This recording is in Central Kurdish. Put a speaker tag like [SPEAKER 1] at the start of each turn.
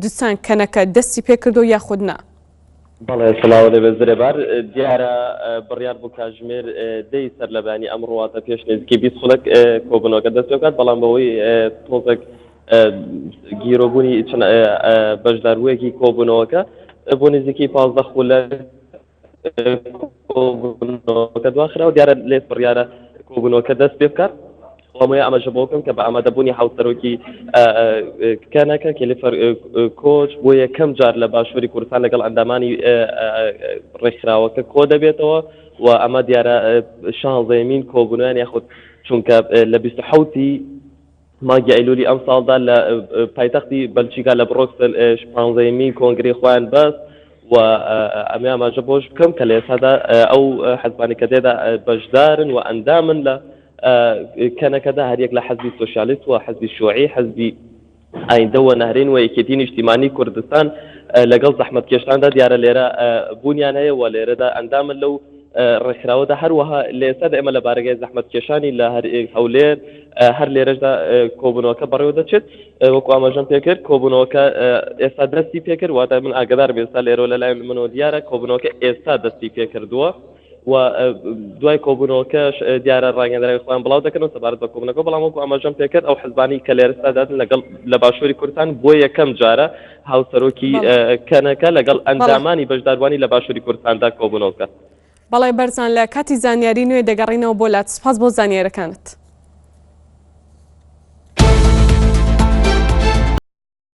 [SPEAKER 1] دچان کەنەکە دەستی پێ کردوە یاخود نا؟ بەڵێ
[SPEAKER 2] سڵاو لەبێت زرێبار، دیارە بڕیار بوو کاتژمێر دە ی سەرلەبەیانی ئەمڕۆ واتە پێش نێزیکەی بیست خولەک کۆبوونەوەکە دەست پێ بکات بەڵام بەوەی تۆزێک گیرۆ بوونی چەند بەشداربوویەکی کۆبوونەوەکە بۆ نێزیکەی پازدە خولەک دواخراوە دیارە لێ بڕیاە کۆبوونەوەکە دەست پێ بکات خۆمەیە ئەمەژە بۆکەم کە بە ئامادەبوونی هاوسەرۆکی کەنەکە کلیفەر کۆچ بۆ یەکەم جار لە باشووری کوردستان لەگەڵ ئەندامانی ڕێکخراوەکە کۆ دەبێتەوە و ئەمە دیارە شانزەیەمین کۆبوونیان یاخود چونکە لە 1970 مانگی ئەیلولی ئەمساڵدا لە پایتەختی بەلچیکا لە بڕۆکسل پانزەیەمین کۆنگری خۆیان بەست و ئەمێ ئاماژە بۆش بکەم کە لە ئێسادا ئەو حەزبانی کە دێدا بەشدارن و ئەندامن لە کەنەکەدا هەریەک لە حەزبی سوسیالیست و حەزبی شوعی حەزبی ئایندەوە نهرین و یەکێتی نیشتیمانی کوردستان لەگەڵ زەحمەتکێشاندا دیارە لێرە بوونیان هەیە و لێرەدا ئەندامن لەو ڕێکخراوەدا هەروەها لە ئێستادا ئێمە لە بارەگای زەحمەتکێشانی لە هەر هەولێر هەر لێرەشدا کۆبوونەوەکە بەڕێوە دەچێت وەکو ئاماژەم پێکرد کۆبوونەوەکە ئێستا دەستی پێکرد واتە من ئاگدار بێستا لێرەوە لە لایەن منەوە دیارە کۆبوونەوەکە ئێستا دەستی پێکردووە و دوای کۆبوونەوەکە دیارە ڕاگەندراوی خۆیان بڵاو دەکەنەوە سەبارەت بە کۆبنەکە بەڵام وەکو ئاماژەم پێکرد ئەو حزبانی کە لێرستا دادن لەگەڵ لە باشووری کوردستان بۆ یەکەم جارە هاوسەرۆکی کەنەکە لەگەڵ ئەندامانی بەشداروانی لە باشووری کوردستاندا کۆبوونەوە بکات.
[SPEAKER 1] بەڵێ بەرزان لە کاتی زانیاری نوێ دەگەڕینەوە بۆ لات سپاس بۆ زانیارەکانت.